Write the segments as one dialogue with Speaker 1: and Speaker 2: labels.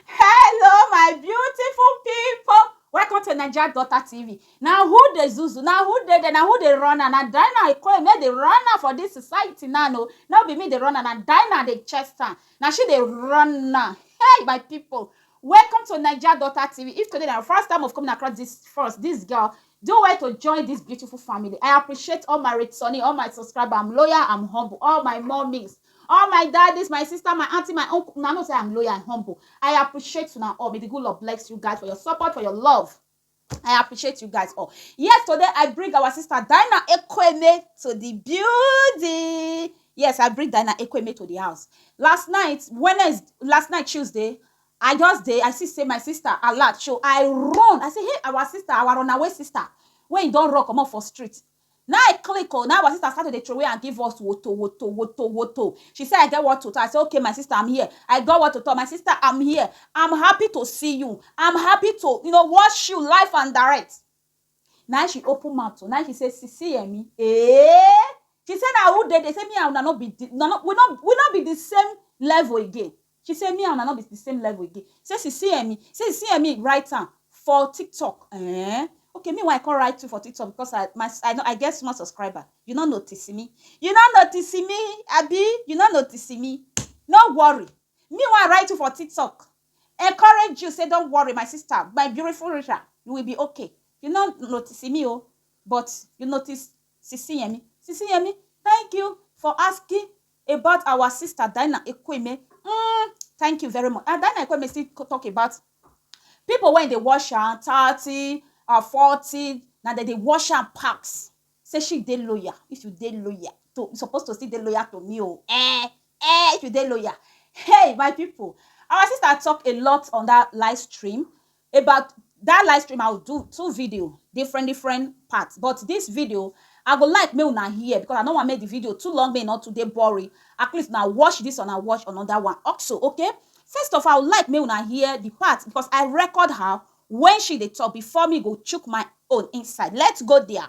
Speaker 1: Hello my beautiful people. Welcome to Naija Daughter TV. Na who dey zuzu, na who dey there, na who dey run am, na Dinah Ikoyi make dey run am for this society now no. No be me dey run am, na Dinah dey chest am. Na she dey run am. Hey my people, welcome to Naija Daughter TV. If today na your first time of coming across this first, this girl, do well to join this beautiful family. I appreciate all my returning, all my subscriber. I'm loyal, I'm humble, all my mummies. All my daddies, my sister, my aunty, my uncle, una know say I'm loyal and humble. I appreciate una all. May the good Lord bless you guys for your support, for your love. I appreciate you guys all. Yes, today I bring our sister Dinah Ekweme to the building. Yes, I bring Dinah Ekweme to the house. Last night, Wednesday, last night Tuesday, I just dey, I see say my sister alert show. I run. I say, hey, our sister, our runaway sister, wey e don run comot for street. Na I click o, na our sister start to dey throway am give us woto woto woto woto. She say I get what to tell, I say okay my sister I'm here, I got what to tell my sister I'm here, I'm happy to see you, I'm happy to you know watch you live and direct. Na I she open mouth o, na I she say sisi Yemi eeh, she say na who dey dey, say me and una no be the, una no we no we no be the same level again. She say me and una no be the same level again. Say she see Emmy, say she see Emmy write am for TikTok. Eh? Okay, me why I come write you for TikTok because I my I, no, I get small subscriber. You no notice me. You no notice me, Abi. You no notice me. No worry. Me why I write you for TikTok. Encourage you. Say don't worry, my sister, my beautiful Risha. You will be okay. You no notice me, oh, but you notice Sisi Yemi. Sisi Yemi, thank you for asking about our sister Dinah Ekweme mm, thank you very much and Dinah Ekweme still talk about people when they wash am thirty or forty na dem dey wash am pass say she dey loyal if you dey loyal to you suppose to still dey loyal to me o oh. eh eh if you dey loyal hey my people our sister talk a lot on that live stream about that live stream i will do two video different different parts but this video i go like make una hear because i no wan make the video too long make e no too dey boring at least na watch this one and watch another one also okay first of all i would like make una hear the part because i record her when she dey talk before me go chook my own inside let's go there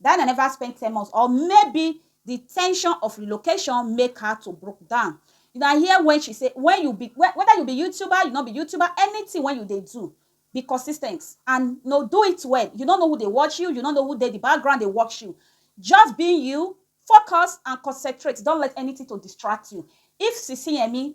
Speaker 1: Diana neva spend ten months or maybe di tension of relocation make her to broke down. Una hear wen she say, Wen you be, weda you be YouTuber, you no be YouTuber, anytin wen you dey do, be consis ten t and no do it well. You no know who dey watch you, you no know who dey di background dey watch you. Just be you, focus and concentrate, don't let anytin to distract you. If Sisi Yemi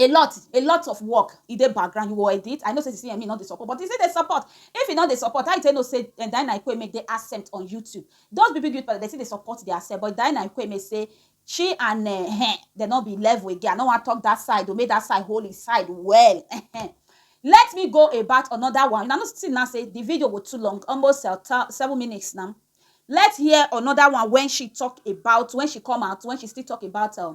Speaker 1: a lot a lot of work e dey background you go edit i know say the cme no dey support but e still dey support if e no dey support how you take know say eh, diana ikweme dey absent on youtube those big big youth palace dey still dey support their self but diana ikweme say she and eh, eh, dem no be level again i no wan talk that side o make that side hold his side well eh, eh. let me go about another one una know see now say the video go too long almost uh, ta- seven minutes now let's hear another one when she talk about when she come out when she still talk about uh,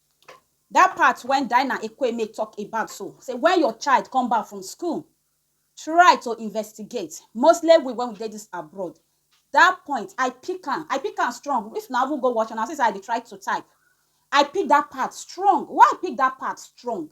Speaker 1: That part when Dinah Ekwueme talk about so say when your child come back from school try to investigate mostly we when we dey this abroad that point I pick am I pick am strong if na even go watch am na see say I dey try to type I pick that part strong why I pick that part strong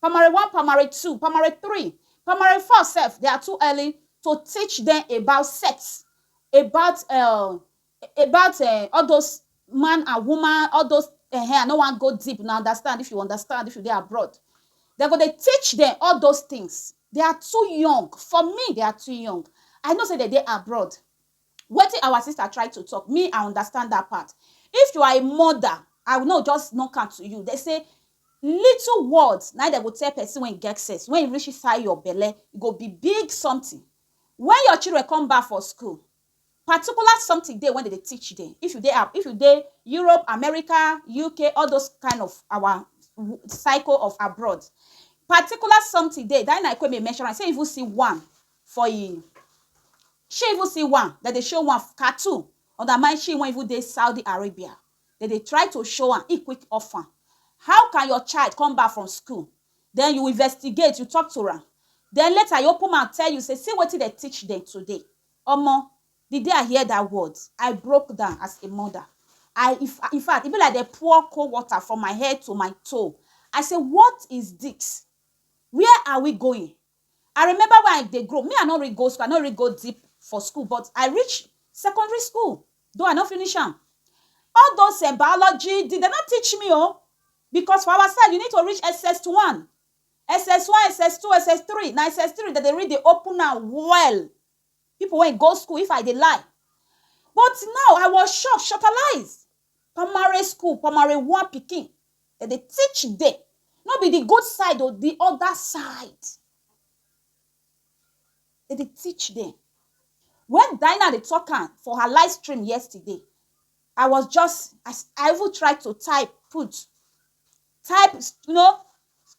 Speaker 1: primary one primary two primary three primary four sef they are too early to teach them about sex about um about um all those man and woman all those um I no wan go deep una understand if you understand if you dey abroad dem go dey teach them all those things they are too young for me they are too young I know sey dem dey abroad Wetin our sister try to talk me I understand that part if you are a mother I will not just knock am to you they say little words na dem go tell person when get sense when e reach inside your belle e go be big something when your children come back for school particular something dey when they dey teach them if you dey if you dey Europe America UK all those kind of our cycle of abroad particular something dey that na him I come dey mention am say if you see one for e shey even see one dem dey show one cartoon on dat man shey wan even dey Saudi Arabia dem dey try to show am e quick off am how can your child come back from school den you investigate you talk to am den later e open mouth tell you sey see wetin dem teach dem today omo di day I hear dat word I broke down as a mother I infact e be like dem pour cold water from my head to my toe I sey what is dis where are we going I remember when I dey grow, me I no really go school, I no really go deep for school but I reach secondary school though I no finish am. All those um biology dem no teach me oh because for our side you need to reach SS1, SS1, SS2, SS3, na SS3 dem dey really dey open am well. People wey go school if I dey lie but now I was shocked, shockalise Primary school, primary one pikin, dem dey teach dem, no be di good side o, di oda side, dem dey teach dem. Wen Dinah dey tok am for her live stream yesterday, I was just, I I even try to type put, type, you know,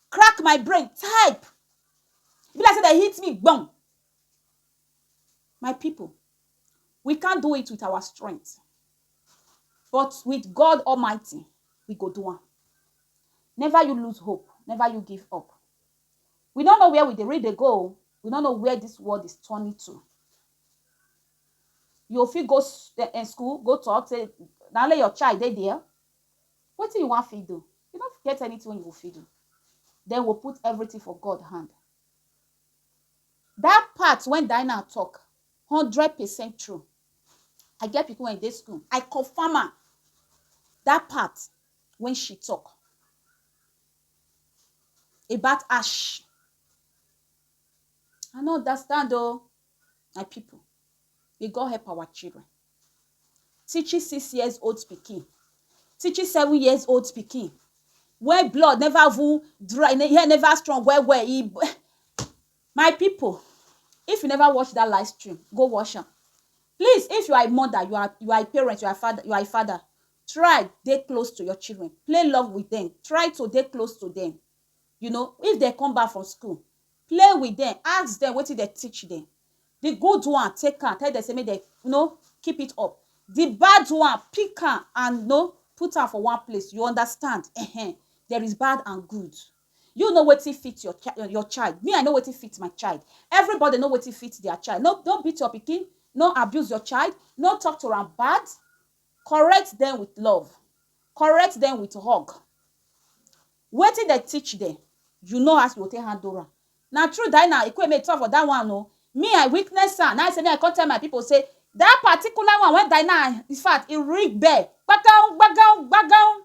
Speaker 1: crack my brain, type, e be like sey dem hit me gbon. My pipu. We can't do it with our strength. But with God Almighty, we go do am. Never you lose hope. Never you give up. We don't know where we dey read dey go. We don't know where this world is turning to. You fit go s- eh, eh, school, go talk, say, now let your child dey there. What do you want fit do? You don't get anything you will fit do. Then we'll put everything for God hand. That part when Dinah talk, Hundred percent true. I get pipu wey dey school, I confirm am. Dat part wey she talk about ash, I no understand oh. My pipu, may God help our children. Teaching six years old pikin, teaching seven years old pikin wey blood never even dry, hin hair never strong well well, e My pipu if you never watch that live stream go watch am please if you are a mother you are you are a parent you are a father you are a father try dey close to your children play love with them try to dey close to them you know if they come back from school play with them ask them wetin they teach them the good one take am tell them say make they you know keep it up the bad one pick am and you know put am for one place you understand uh-huh. there is bad and good You know wetin fit your chi- your child. Me, I know wetin fit my child. Everybody know wetin fit their child. No, no beat your pikin. No abuse your child. No talk to am bad. Correct them with love. Correct them with hug. Wetin they teach them, you know as you go take handle am. Na true that na Ekweme talk for that one o. Me, I witness am. Now I say me, I come tell my people say that particular one when Dinah, in fact, e ring bell. Gbagam, gbagam, gbagam.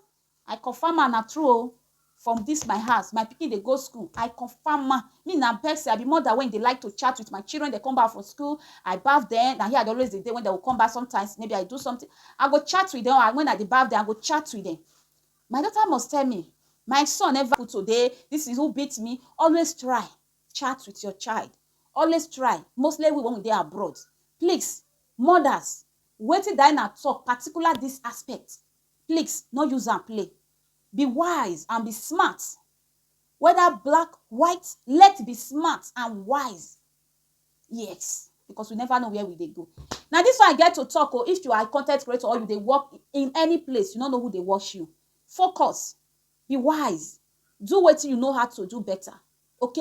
Speaker 1: I confirm am na true o from this my house my pikin dey go school I confirm am me na person I be mother wey dey like to chat with my children dey come back from school I baff dem na here I dey always dey dey when dem go come back sometimes maybe I do something I go chat with dem when I dey baff dem I go chat with dem my daughter must tell me my son never put today this is who beat me always try chat with your child always try mostly we when we dey abroad please mothers wetin Diana talk particular this aspect Plix no use am play be wise and be smart weda black white let be smart and wise yes because we never know where we dey go na this one i get to talk o if you are a content creator or you dey work in any place you no know who dey watch you focus be wise do wetin you know how to do better Ok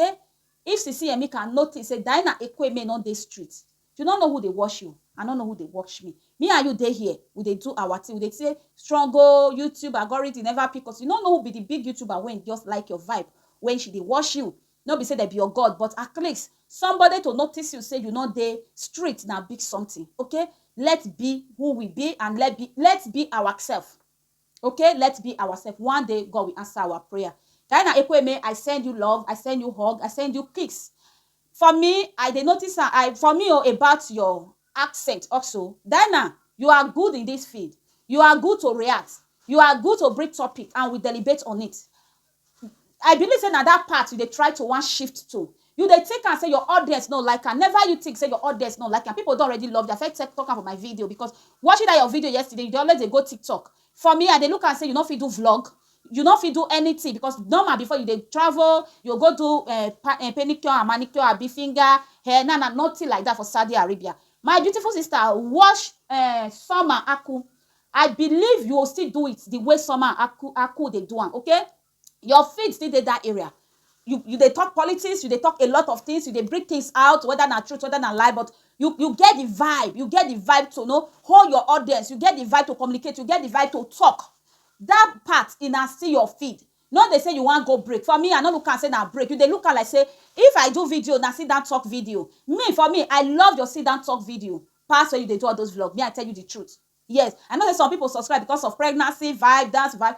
Speaker 1: if sisi yemi can notice say Diana Ekwueme no dey street you no know who dey wash you I no know who dey wash me me and you dey here we dey do our thing we dey say strong o YouTube agoridi never pick us you no know who be the big YouTuber wey just like your vibe wey she dey wash you no be say dem be your God but atleast somebody to notice you say you no dey street na big something ok let be who we be and let be let be our self. Okay let's be ourself one day God will answer our prayer Diana Ekweme I send you love I send you hug I send you kiss for me I dey notice am I for me o oh, about your accent also Diana you are good in this field you are good to react you are good to bring topic and we deliberate on it I believe say na that part you dey try to wan shift to You dey think am say your audience no like am Never you think say your audience no like am People don already love you I first talk am for my video because watching that your video yesterday you dey always dey go TikTok For me I dey look am say you no fit do vlog You no fit do anything because normal before you dey travel You go go do um pedicure and manicure abi finger hair Now na nothing like that for Saudi Arabia My beautiful sister watch um Summer Aku I believe you o still do it the way somehow aku aku dey do am okay your feet still dey that area you you dey talk politics you dey talk a lot of things you dey bring things out whether na truth whether na lie but you you get the vibe you get the vibe to know hold your audience you get the vibe to communicate you get the vibe to talk that part e na still your feed no dey say you wan go break for me I no look am say na break you dey look am like say if I do video na sit down talk video me for me I love your sit down talk video pass when you dey do all those vlog me I tell you the truth. Yes, I know say some people subscribe because of pregnancy vibe, dance vibe.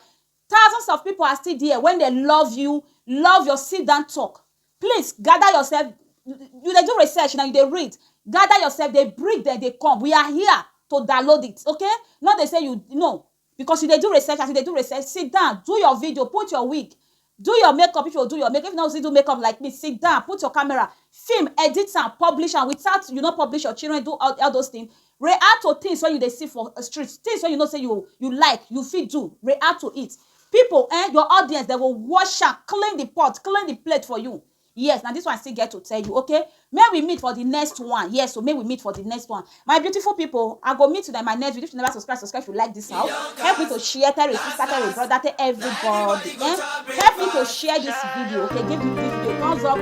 Speaker 1: Thousands of people are still there when they love you, love your sit down talk. Please gather yourself. You dey do research now, you dey read. Gather yourself, dey bring them, dey come. We are here to download it, okay? Not dey say you no because you dey do research, as you dey do research, sit down, do your video, put your wig, Do your makeup if you do your make if you no see do makeup like me sit down put your camera film edit am publish am without you no publish your children do all all those things react to things wey you dey see for street things wey you know say you you like you fit do react to it people um your audience dem go wash am clean the pot clean the plate for you Yes na this one I still get to tell you okay make we meet for the next one yes so make we meet for the next one my beautiful people I go meet you in my next video if you never subscribe subscribe if you like this house help me to share tell your sister tell your brother tell everybody eh? help me to share this video okay give me this video thumbs up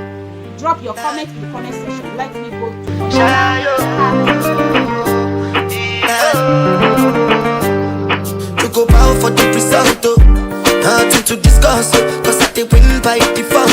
Speaker 1: drop your comment in the comment section let me go to to go bow for the result oh. nothing to discuss oh. cause I dey win by default